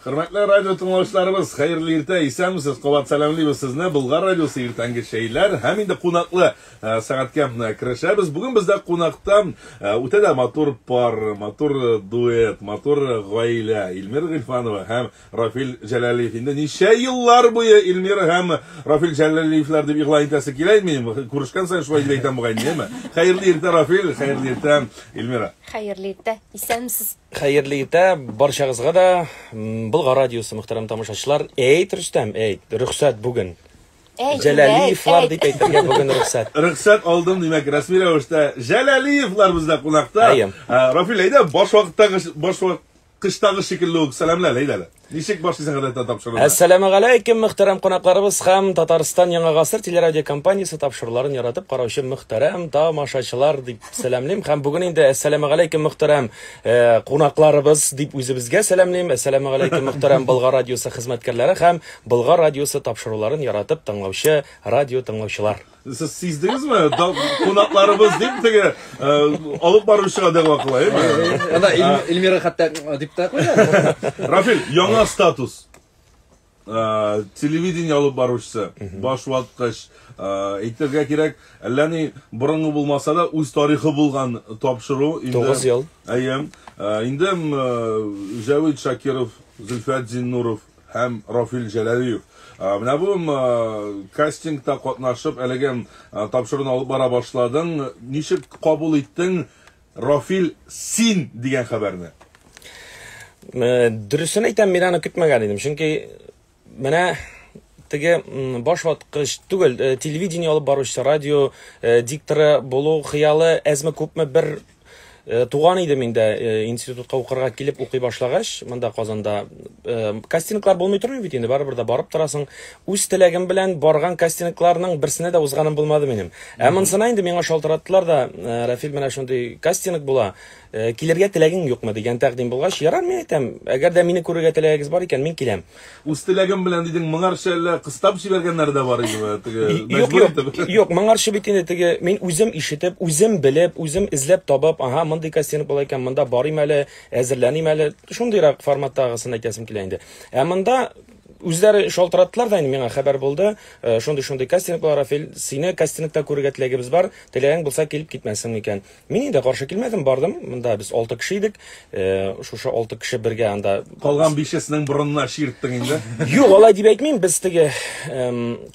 Хөрмәтле радио тыңлаучыларыбыз, хәерле иртә, исәнмесез. Кабат сәламлибез сезне. Булгар радиосы иртәнге шәйләр һәм инде кунаклы э, сәгатькә э, керешәбез. Бүген бездә кунакта э, үтә дә матур пар, матур дуэт, матур гаилә. Илмир Гыйльфанова һәм Рафил Җәләлиев инде ничә еллар буе Эльмира һәм Рафил Җәләлиевләр дип игълан итәсе килә инде. Күрешкән саен шулай дип әйтәм бугай, әйеме? Хәерле иртә, Рафил, хәерле иртә, Эльмира. Хәерле иртә, исәнмесез. Хәерле иртә барчагызга да, Болгар радиосы мөхтәрәм тамашачылар. Әйт, Рөстәм, әйт, рөхсәт бүген. Җәләлиевлар дип әйтергә бүген рөхсәт. Рөхсәт алдым, димәк, рәсми рәвештә Җәләлиевлар бездә кунакта. Рафил, әйдә, баш вакыттагы баш Кыштагы шикелле үк сәламле әле, әйдә әле. Ничек башлый сәгадәттә тапшыруны? Әссәламә галәйкем, мөхтәрәм кунакларыбыз һәм Татарстан Яңа гасыр телерадиокомпаниясе тапшыруларын яратып караучы мөхтәрәм тамашачылар дип сәламлим һәм бүген инде әссәламә галәйкем, мөхтәрәм э, кунакларыбыз дип үзебезгә сәламлим. Әссәламә галәйкем, мөхтәрәм Болгар радиосы хезмәткәрләре һәм Болгар радиосы тапшыруларын яратып тыңлаучы радио тыңлаучылар. Сез сиздегезме? Кунакларыбыз дип теге алып баручыга дәгъва кыла, әйеме? Анда Эльмира хәтта дип та куя. Рафил, яңа статус. Телевидение алып баручысы, баш ваткыч, әйтергә кирәк, әллә ни борынгы булмаса да, үз тарихы булган тапшыру. 9 ел. Әйе. Инде Җәвит Шакиров, Зөлфәт Зиннуров, һәм Рафил Җәләлиев. Менә бу кастингта катнашып, әлеге тапшыруны алып бара башладың. Ничек кабул иттең Рафил син дигән хәбәрне? Дөресен әйтәм, мин аны көтмәгән идем, чөнки менә теге баш ваткыч түгел, э, телевидение алып баручы, радио э, дикторы булу хыялы әзме күпме бер Э, туган идем инде э, институтка укырга килеп укый башлагач монда казанда э, кастинглар булмый тормый бит инде барыбер дә барып торасың үз теләгем белән барган кастингларның берсенә дә узганым булмады минем ә монысына инде миңа шалтыраттылар да рәфил менә шундый кастинг була килергә теләгең юкмы дигән тәкъдим булгач ярар мин әйтәм әгәр дә мине күрергә теләгегез бар икән мин киләм Үз теләгем белән дидең, моңарчы әллә кыстап җибәргәннәр дә бар идеме? Теге Юк, мәҗбүр юк, итеп. юк, моңарчы бит инде теге мин үзем ишетеп, үзем белеп, үзем эзләп табып, ага, мондый кастинг була икән, монда барыйм әле, әзерләним әле. Шундыйрак форматтагысын әйтәсем килә инде. Ә монда үзләре шалтыраттылар да инде миңа хәбәр булды. Э, Шундый-шундый кастинг була, Рафил, сине кастингта күрергә теләгебез бар. Теләгең булса килеп китмәсең икән. Мин инде каршы килмәдем, бардым. Монда без алты кеше идек. Э, шушы алты кеше бергә анда Калган бишесенең борынына чирттең инде. Юк, алай дип әйтмим, без теге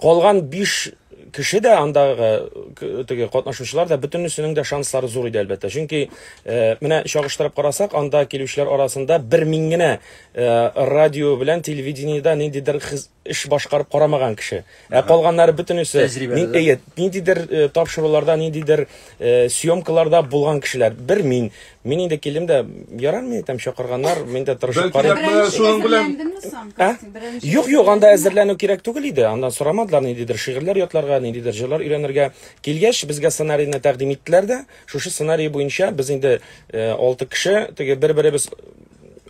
калган биш кеше дә андагы теге катнашучылар да бөтенесенең дә шанслары зур иде әлбәттә. Чөнки э, менә чагыштырып карасак, анда килүчеләр арасында бер мин генә э, радио белән телевидениедә ниндидер хез- эш башкарып карамаган кеше. Ә калганнары бөтенесе әйе, ниндидер э, тапшыруларда, ниндидер э, съемкаларда булган кешеләр. Бер мин, мин инде килдем дә, ярар мин әйтәм, чакырганнар, мин дә тырышып карыйм. Шуның белән ә? Юк, юк, анда әзерләнү кирәк түгел иде. Андан сорамадылар ниндидер шигырьләр ятларга, ниндидер җырлар өйрәнергә. Килгәч, безгә сценарийны тәкъдим иттеләр дә. Шушы сценарий буенча без инде 6 э, кеше, теге бер-беребез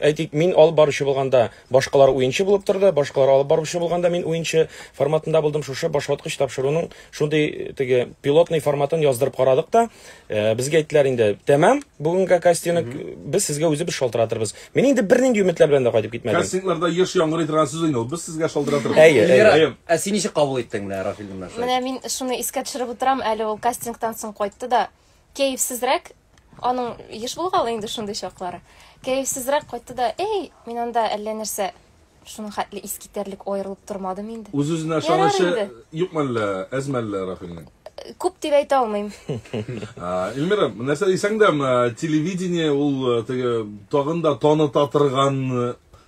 әйтик, мин алып баручы булганда, Башкалар уенчы булып торды, башкалар алып баручы булганда мин уенчы форматында булдым. Шушы башваткыч тапшыруның шундый теге пилотный форматын яздырып карадык та, э, безгә әйттеләр инде, тәмам, бүгенгә кастинг без сезгә үзебез шалтыратырбыз. Мин инде бернинди өметләр белән дә кайтып китмәдем. Кастингларда еш яңгырый торган сүз инде ул. Без сезгә шалтыратырбыз. Әйе, әйе. Эльвира, Әйе. ә син ничек кабул иттең менә Рафилне менә шулай? Менә мин шуны искә төшереп утырам, әле ул кастингтан соң кайтты да, кәефсезрәк, Аның еш булгалы инде шундый чаклары. Кәефсезрәк кайтты да, Эй, мин анда әллә нәрсә шуның хәтле искитәрлек аерылып тормадым инде. Үз-үзенә ышанычы юкмы әллә, әзме әллә Рафилнең? Күп дип әйтә алмыйм. Эльмира, нәрсә дисәң дә, телевидение ул теге тагын да таныта торган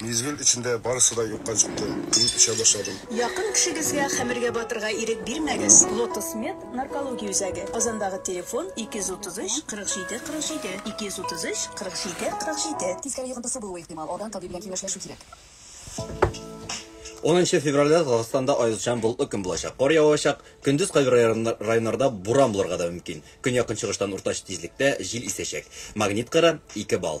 Мизгел эчендә барысы да юкка чыкты. Мин эчә башладым. Якын кешегезгә хәмергә батырга ирек бирмәгез. Лотос Мед наркология үзәге, Казандагы телефон, 233 47 47, 233 47 47. Тискәре йогынтысы булуы ихтимал, алдан табиб белән киңәшләшү кирәк. Унынчы февральдә Татарстанда аязучан болытлы көн булачак. Кар явачак, көндез кайбер районнарда буран булырга да мөмкин. Көньяк-көнчыгыштан уртача тизлектә җил исәчәк. Магнит кыры, 2 балл.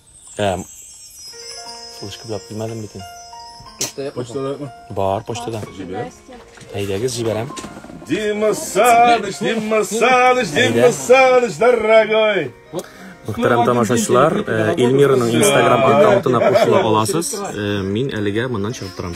Ә, шул эшкә беләп килмәдем бит инде. Почтада ма? Бар, почтада. Әйдәгез, җибәрәм. Дима Саныч, Дима Саныч, Дима Саныч, дорогой! Мөхтәрәм тамашачылар, э, Эльмираның Instagram аккаунтына кушыла аласыз. Э, мин әлегә моннан чыгып торам.